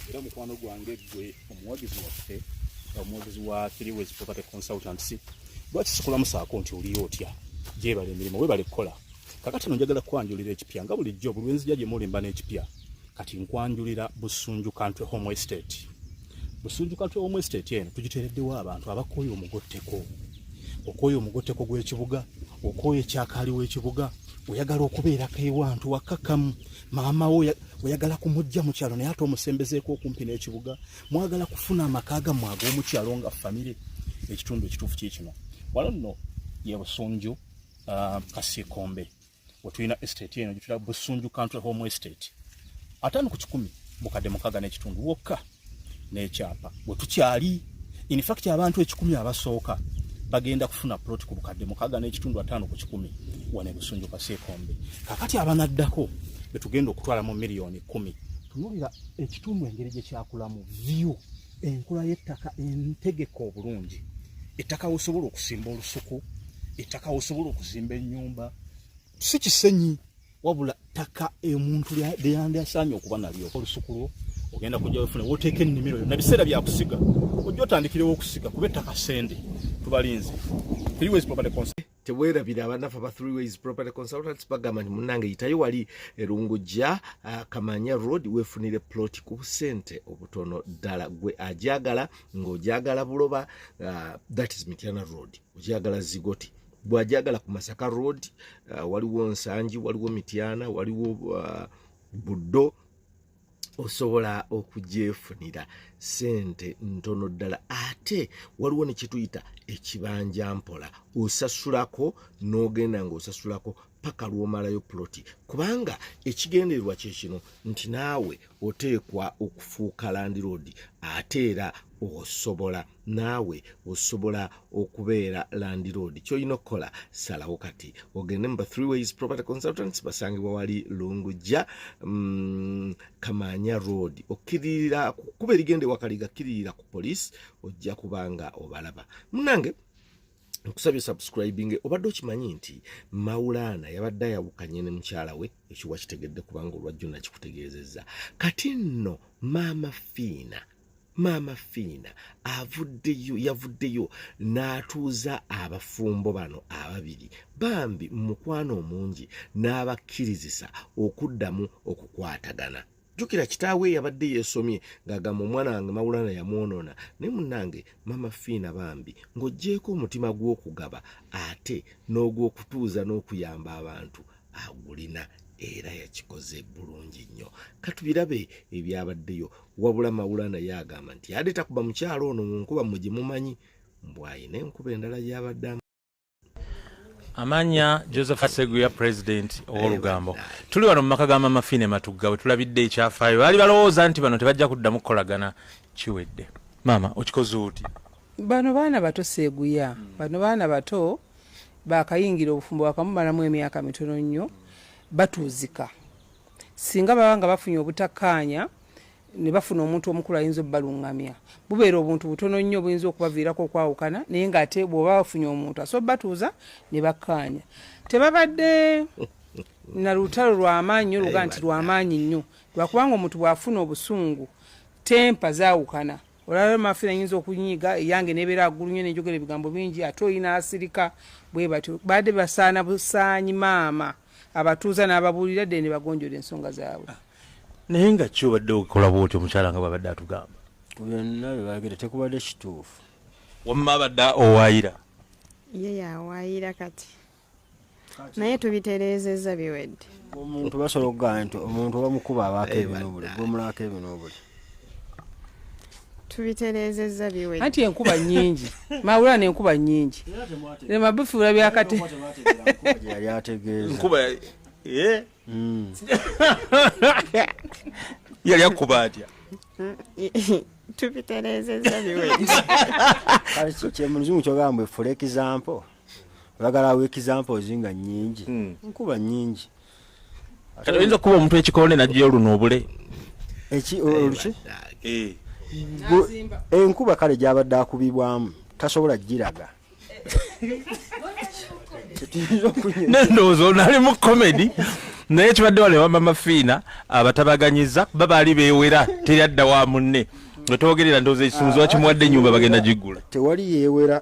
era mukwano gwange gwe omuwagizi waffe omuwagizi wa three ways property consultants lwaki sikulamu saako nti oliyo otya gyebala emirimu webale kukola kakati no njagala kwanjulira ekipya nga bulijjo buli wenzija gye muli mba n'ekipya kati nkwanjulira busunju country home estate busunju country home estate eno tugitereddewo abantu abakooye omugotteko okooye omugotteko gw'ekibuga okooye ekyakaali w'ekibuga oyagala okubeerako ewantu wakakamu maama wo oyagala kumujja mu kyalo naye ate omusembezeeko okumpi n'ekibuga mwagala kufuna amaka gammwe ag'omu kyalo nga famire ekitundu ekituufu kye kino wano nno ye busunju uh, kasikombe wetulina estate eno gyetulina busunju country home estate ataano ku kikumi bukadde mukaga n'ekitundu wokka n'ekyapa wetukyali infact abantu ekikumi abasooka bagenda kufuna plot ku bukadde mukaga n'ekitundu ataano ku kikumi wane busunju kaseekombe kakati abanaddako betugenda okutwala mu miliyoni kumi tunulira ekitundu engeri gyekyakulamu view Enkula y'ettaka entegeke obulungi, ettaka wosobola okusimba olusuku, ettaka wosobola okuzimba ennyumba, si kisenyi wabula ttaka omuntu lyeyandyasaanye okuba nalyo olusuku lwo ogenda kujja wefune woteeka ennimiro yo na biseera byakusiga ojja otandikirewo okusiga kuba ettaka sente tubalinze tewerabira abanafe aba three ways property consultants bagamba nti munange yitayo wali erungujja uh, kamanya road wefunire plot ku busente obutono ddala gwe ajagala ng'ojagala buloba uh, that is mityana road ojagala zigoti bwajagala ku masaka road uh, waliwo nsangi waliwo mityana waliwo uh, buddo osobola okugyefunira sente ntono ddala ate waliwo nekyetuyita ekibanja mpola osasulako n'ogenda ng'osasulako paka lwomalayo puloti kubanga ekigendererwa kyekino nti naawe oteekwa okufuuka landiroodi ate era osobola naawe osobola okubeera landiroad kyolina okukola salawo kati ogende muba three ways property consultants basangibwa wali lungujja mm, kamaanya road okkiririra kuba erigenda ewakaliga kiririra ku police ojja kubanga obalaba munange nkusabye subscribing obadde okimanyi nti maulaana yabadde ayawukanye ne mukyala we ekiwa kitegedde kubanga olwajjo nakikutegeezezza kati nno maama fiina maama fiina avuddeyo yavuddeyo n'atuuza abafumbo bano ababiri bambi mukwano omungi n'abakkirizisa okuddamu okukwatagana jjukira kitaawe yabadde yeesomye ng'agamba omwana wange mawulana yamwonoona naye munnange maama fiina bambi ng'oggyeeko omutima gw'okugaba ate n'ogw'okutuuza n'okuyamba abantu agulina era yakikoze bulungi nnyo katubirabe ebyabaddeyo wabula mawula naye agamba nti yadde takuba mukyalo ono mu nkuba mwe gye mumanyi mbwayina enkuba endala gyabadde amanya joseph seguya president owolugambo tuli wano mumaka ga mama fine matugga wetulabidde ekyafaayo baali balowooza nti bano tebajja kuddamu kukolagana kiwedde maama okikoze oti bano baana bato seguya bano baana bato bakayingira obufumbo bakamumalamu emyaka mitono nnyo batuuzika singa baba nga bafunye obutakkaanya ne bafuna omuntu omukulu ayinza obubalungamya bubeera obuntu butono nnyo obuyinza okubaviirako okwawukana naye ngaate bwoba bafunye omuntu asobola batuuza ne bakkaanya tebabadde na lutalo lwamaanyi nyo luga nti lwamaanyi nnyo lwakubanga omuntu bwafuna obusungu tempa zawukana olaba mafi nayinza okunyiiga eyange nebeera agulu nyo nenjogera ebigambo bingi ate oyina asirika bwe batyo baadde basaana busaanyi maama abatuuza n'ababuulira ddene ne bagonjola ensonga zaabwe ah, naye nga ki obadde okola bwoti omukyala nga bwabadde atugamba ku byonna bye bagera tekubadde kituufu wamma abadde owaayira ye yawaayira kati naye tubitereezezza biwedde omuntu basobola okugamba nti omuntu bamukuba abaako ebinobuli bwomulabako ebinobuli tubitereezezza biwe anti enkuba nyingi mawula nenkuba nyingi nemabifuula byakati yali ategeezakuba eh? hmm. yali akuba atya tubitereezezza biwe kyemuzimu kyogamba mbwe fula ekizampo bagala awo examples nga nyingi hmm. nkuba nyingi kati oyinza okuba omuntu ekikonde najja oluno obule eki oluki eh. enkuba kale gyabadde akubibwamu tasobola giraga nendowooza ono ali mu komedi naye kibadde wale wamama fiina abatabaganyiza kuba baali bewera teri adda wa munne wetwogerera ndowooza ekisumuzi wakimuwadde enyumba bagenda giggula tewali yewera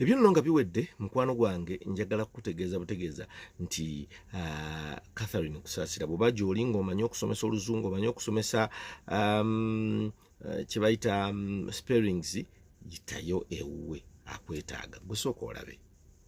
ebyo nno nga biwedde mukwano gwange njagala kukutegeeza butegeeza nti uh, catherine kusaasira bweba gyoli ngaomanyi okusomesa oluzungu omanyi okusomesa um, uh, kyebayita um, sparings yitayo ewuwe akwetaaga gusooka olabe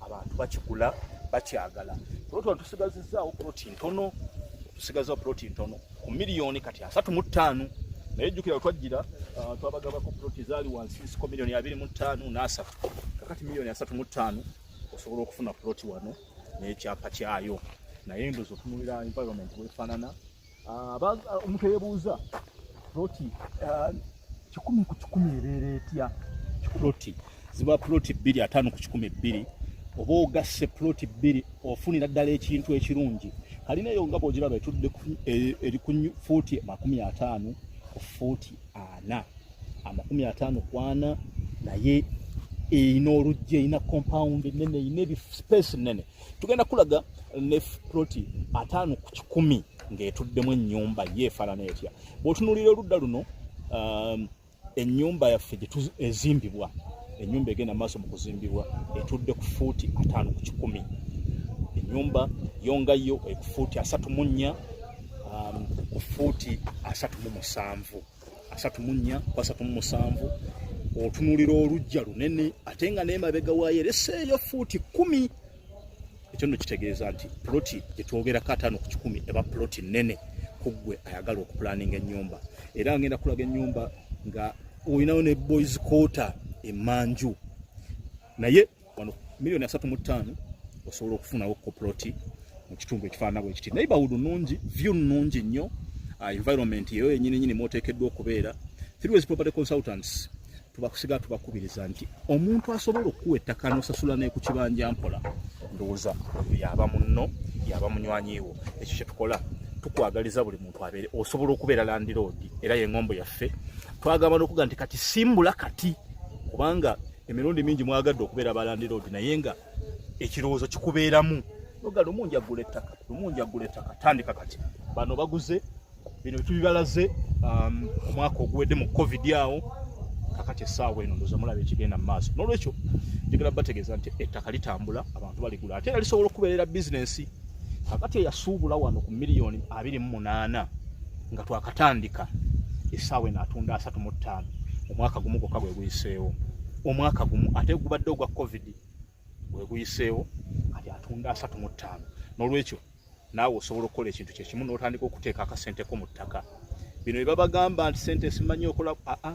abantu bakigula bakyagala kulotwa tusigazizaawo poloti ntono tusigazaawo poloti ntono ku miliyoni kati asatu mu ttaano naye jjukira twajjira uh, twabagabako poloti zaali wansi nsiko miliyoni abiri mu ttaano n'asatu kakati miliyoni asatu mu ttaano osobola okufuna poloti wano n'ekyapa kyayo naye ndozi otunulira environment wefaanana Ah, ah, omuntu eyebuuza ploti ah, kikumi ku kikumi ebeera etya ploti ziba ploti bbiri ataano ku kikumi bbiri oba ogasse ploti bbiri ofunira ddala ekintu ekirungi kalina eyo nga bwogiraba etudde e, eri ku fuuti amakumi ataano ku fuuti ana amakumi ataano ku ana naye erina oluggi erina compound enene erina ebispace nene tugenda kulaga ne ploti ataano ku kikumi ng'etuddemu ennyumba ye efaanana etya bw'otunuulira oludda luno um, ennyumba yaffe ezimbibwa ennyumba egenda maaso mu kuzimbibwa etudde ku fuuti ataano ku kikumi ennyumba yongayo ekufuuti asatu mu nnya um, ku fuuti asatu mu musanvu asatu mu nnya ku asatu mu musanvu otunulira olujja lunene ate nga n'emabega waayo ereseeyo fuuti kkumi ekyo nno kitegeeza nti puloti gye twogerako ataano ku kikumi eba puloti nnene ku ggwe ayagala okupulaninga ennyumba era ngenda kulaga ennyumba nga olinawo ne boys quarter emanju naye wano milioni asatu mu ttaano osobola okufunawo koploti mu kitundu ekifaanana bwe kiti neighborhood nnungi view nnungi nnyo uh, environment eyo yenyini nyini mwoteekeddwa okubeera through property consultants tubakusiga tubakubiriza nti omuntu asobola okukuwa ettaka n'osasula neku kibanja mpola ndowooza oyo yaba munno yaba munywanyiwo ekyo kyetukola tukwagaliza buli muntu abeere osobola okubeera landiroodi era yengombo yaffe twagamba nokuga nti kati simbula kati kubanga emirundi mingi mwagadde okubeera balandiroodi naye nga ekirowoozo kikubeeramu noga lumu njagula ettaka lumu njagula ettaka tandika kati bano baguze bino bitubibalaze um, omwaka oguwedde mu covid awo kakati essaawa eno ndoza mulaba ekigenda mu maaso n'olwekyo njagala bategeeza nti ettaka litambula abantu baligula ate era lisobola okubeerera bizinensi kakati eyasuubula wano ku miliyoni abiri mu munaana nga twakatandika esaawa eno atunda asatu mu ttaano omwaka gumu gwokka gwe guyiseewo omwaka gumu ate gubadde ogwa covid gwe guyiseewo kati atunda asatu mu ttaano n'olwekyo naawe osobola okukola ekintu kyekimu n'otandika okuteeka akasenteko mu ttaka bino bye babagamba nti sente esimanyi okola aa